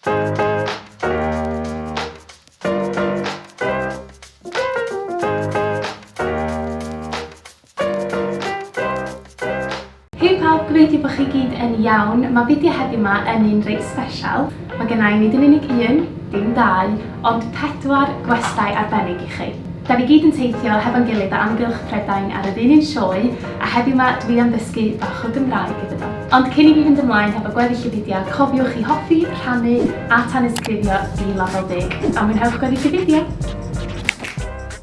Hei pawb, gobeithio bod chi gyd yn iawn. Mae fideo heddiw 'ma yn un reit sbesial. Mae gennai nid yn unig un, dim dau, Ond pedwar gwestai arbennig i chi. Da ni gyd yn teithio hefo'n gilydd o amgylch Prydain ar yr un un sioe, a heddiw 'ma dwi am ddysgu bach o Gymraeg iddyn nhw. Ond cyn i fi fynd ymlaen hefo gweddill y fideo, cofiwch i hoffi, rhannu a tanysgrifio i Lafel Dug. A mwynhewch gweddill y fideo!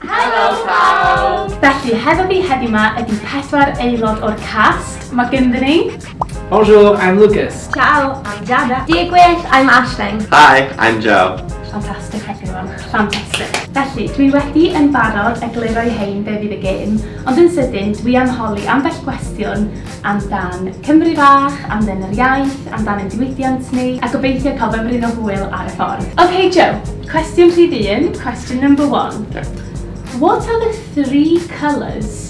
Helo pawb! Felly, hefo fi heddiw 'ma ydi pedwar aelod o'r cast. Mae gynddyn ni. Bonjour, I'm Lucas. Ciao, I'm Jada. Diolch gwell, I'm Ashling. Hi, I'm Joe. Fantastic everyone, fantastic. Felly, dwi wedi yn barod egluro i hein be fydd y gêm, ond yn sydyn dwi am holi ambell gwestiwn amdan Cymru fach, amdan yr iaith, amdan yn diwydiant ni, a gobeithio cael fy mryn o hwyl ar y ffordd. Ok Joe, cwestiwn rhif un, question number one. What are the three colours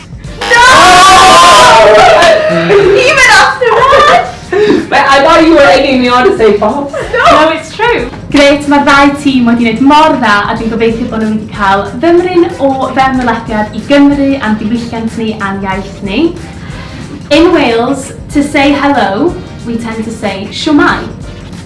No! Even after that! Mae I thought you were egging me on to say false. No! No, it's true. Grêt, mae'r ddau tîm wedi gwneud mor dda a dwi'n gobeithio bod nhw wedi cael fymryn o fewnwelediad i Gymru a'n diwylliant ni a'n iaith ni. In Wales, to say hello, we tend to say shwmae.